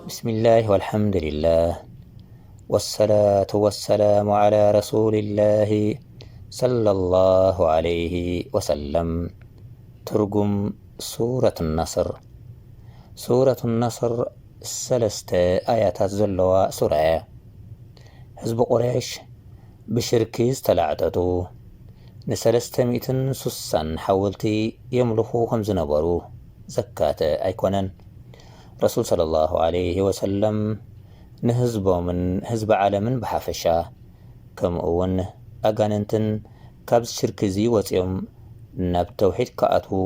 ብስሚላህ ወልሓምዱሊላህ ወሰላቱ ወሰላሙ ዓላ ረሱሊላሂ ሰለላሁ ዓለይሂ ወሰለም። ትርጉም ሱረት ነስር ሱረት ነስር ሰለስተ ኣያታት ዘለዋ ሱራ እያ። ህዝቢ ቁረይሽ ብሽርኪ ዝተላዕጠጡ ንሰለስተ ሚእትን ሱሳን ሓወልቲ የምልኹ ከም ዝነበሩ ዘካተ ኣይኮነን። ረሱል ሰለላሁ ዓለይሂ ወሰለም ንህዝቦምን ህዝቢ ዓለምን ብሓፈሻ ከምኡ'ውን ኣጋንንትን ካብዚ ሽርኪ'ዚ ወጺኦም ናብ ተውሒድ ክኣትዉ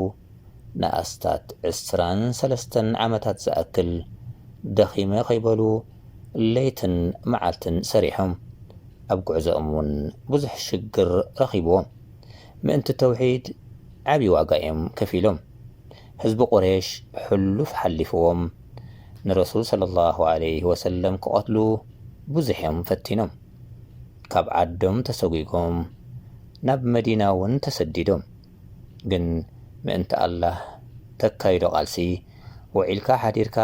ንኣስታት ዕስራን ሰለስተን ዓመታት ዝኣክል ደኺመ ከይበሉ ለይትን መዓልትን ሰሪሖም። ኣብ ጉዕዞኦም እውን ብዙሕ ሽግር ረኺብዎም። ምእንቲ ተውሒድ ዓቢ ዋጋ እዮም ከፊሎም። ህዝቢ ቁሬሽ ሕሉፍ ሓሊፍዎም ንረሱል ሰለላሁ ዓለይሂ ወሰለም ክቐትሉ ብዙሕ እዮም ፈቲኖም። ካብ ዓዶም ተሰጒጎም ናብ መዲና እውን ተሰዲዶም። ግን ምእንቲ ኣላህ ተካይዶ ቃልሲ ውዒልካ ሓዲርካ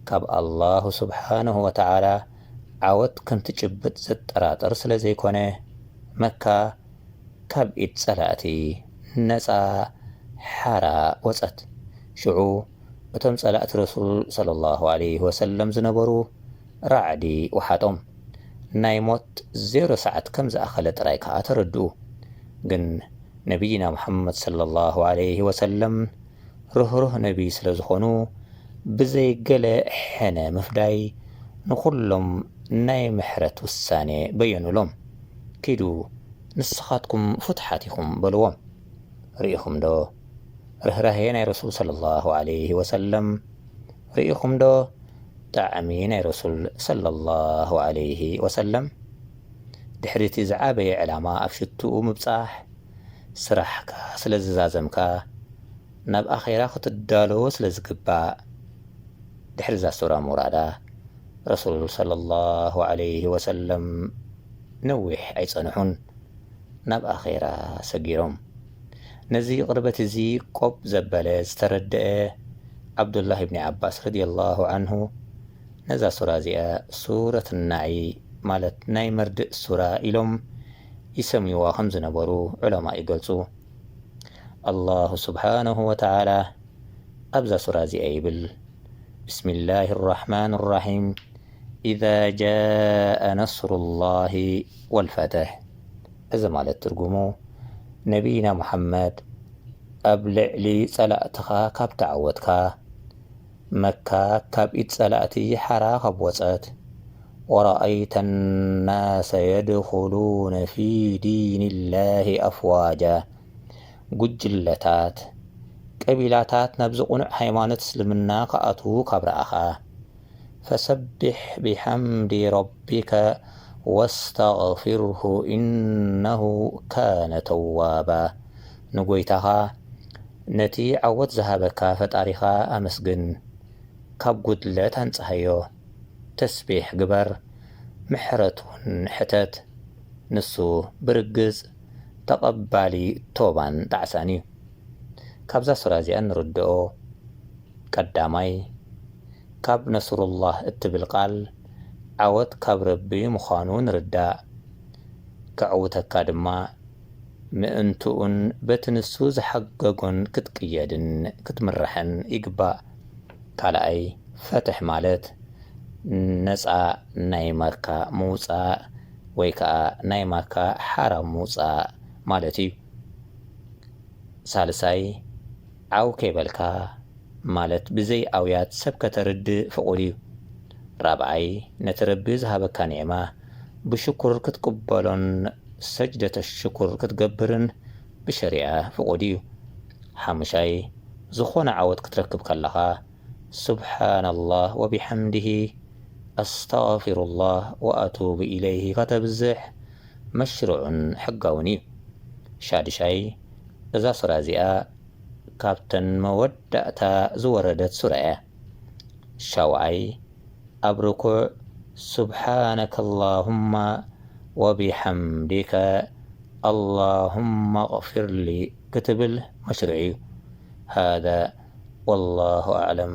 ካብ ኣላሁ ሱብሓነሁ ወተዓላ ዓወት ከምትጭብጥ ዘጠራጥር ስለ ዘይኮነ መካ ካብ ኢድ ጸላእቲ ነጻ ሓራ ወጸት ሽዑ እቶም ጸላእቲ ረሱል ሰለላሁ ዓለይሂ ወሰለም ዝነበሩ ራዕዲ ወሓጦም። ናይ ሞት ዜሮ ሰዓት ከም ዝኣኸለ ጥራይ ከኣ ተረድኡ። ግን ነብይና ሙሓመድ ሰለላሁ ዓለይሂ ወሰለም ርህሩህ ነብይ ስለ ዝኾኑ ብዘይ ገለ ሕነ ምፍዳይ ንኹሎም ናይ ምሕረት ውሳኔ በየኑሎም። ኪዱ ንስኻትኩም ፍቱሓት ኢኹም በልዎም። ርኢኹምዶ ርህራሄ ናይ ረሱል ሰለላሁ ዓለይሂ ወሰለም። ሪኢኹም ዶ ጣዕሚ ናይ ረሱል ሰለላሁ ዓለይሂ ወሰለም ድሕሪ እቲ ዝዓበየ ዕላማ ኣብ ሽትኡ ምብጻሕ ስራሕካ ስለ ዝዛዘምካ ናብ ኣኼራ ክትዳሎ ስለ ዝግባእ ድሕሪ እዛ ሱራ ምውራዳ ረሱል ሰለላሁ ዓለይሂ ወሰለም ነዊሕ ኣይጸንሑን ናብ ኣኼራ ሰጊሮም ነዚ ቕርበት እዚ ቆብ ዘበለ፣ ዝተረደኣ፣ ዓብዱላህ ኢብኒ ዓባስ ረዲየላሁ ዓንሁ ነዛ ሱራ እዚኣ ሱረት ናዒ ማለት ናይ መርድእ ሱራ ኢሎም ይሰምዩዋ ከም ዝነበሩ ዑለማእ ይገልጹ። ኣላሁ ስብሓነሁ ወተዓላ ኣብዛ ሱራ እዚኣ ይብል፣ ብስሚላሂ ኣራሕማኒ ራሒም፣ ኢዛ ጃኣ ነስሩላሂ ወልፈትሕ። እዚ ማለት ትርጉሙ ነብይና ሙሓመድ ኣብ ልዕሊ ጸላእትኻ ካብ ተዓወትካ፣ መካ ካብ ኢድ ጸላእቲ ሓራ ካብ ወጸት፣ ወረኣይተ ናሰ የድኹሉነ ፊ ዲንላሂ ኣፍዋጃ፣ ጉጅለታት፣ ቀቢላታት ናብዚ ቅኑዕ ሃይማኖት እስልምና ክኣትዉ ካብ ረኣኻ፣ ፈሰቢሕ ቢሐምዲ ረቢከ ወስተግፊርሁ ኢነሁ ካነ ተዋባ ንጎይታኻ ነቲ ዓወት ዝሃበካ ፈጣሪኻ ኣመስግን ካብ ጉድለት ኣንጽሃዮ ተስቢሕ ግበር ምሕረት ውን ሕተት ንሱ ብርግጽ ተቀባሊ ቶባን ጣዕሳን እዩ ካብዛ ሱራ እዚኣ እንርድኦ ቀዳማይ፣ ካብ ነስሩላህ እትብል ቃል ዓወት ካብ ረቢ ምዃኑ ንርዳእ። ከዕውተካ ድማ ምእንትኡን በቲ ንሱ ዝሓገጎን ክትቅየድን ክትምራሕን ይግባእ። ካልኣይ፣ ፈትሕ ማለት ነጻ ናይ ማካ ምውጻእ ወይ ከኣ ናይ ማካ ሓራ ምውጻእ ማለት እዩ። ሳልሳይ፣ ዓው ከይበልካ ማለት ብዘይ ኣውያት ሰብ ከተርድእ ፍቑድ እዩ። ራብዓይ፣ ነቲ ረቢ ዝሃበካ ኒዕማ ብሽኩር ክትቅበሎን ሰጅደተሹኩር ክትገብርን ብሸሪዓ ፍቑድ እዩ። ሓሙሻይ፣ ዝኾነ ዓወት ክትረክብ ከለኻ ሱብሓነላህ ወቢሓምዲሂ ኣስተግፊሩላህ ወኣቱቡ ኢለይሂ ከተብዝሕ መሽሩዕን ሕጋውን እዩ። ሻዱሻይ፣ እዛ ሱራ እዚኣ ካብተን መወዳእታ ዝወረደት ሱራ እያ። ሻውዓይ፣ ኣብ ርኩዕ ሱብሓነከ ላሁመ ወቢሐምዲከ ኣላሁመ እቕፊርሊ ክትብል መሽሩዕ እዩ። ሃዛ ወላሁ ኣዕለም።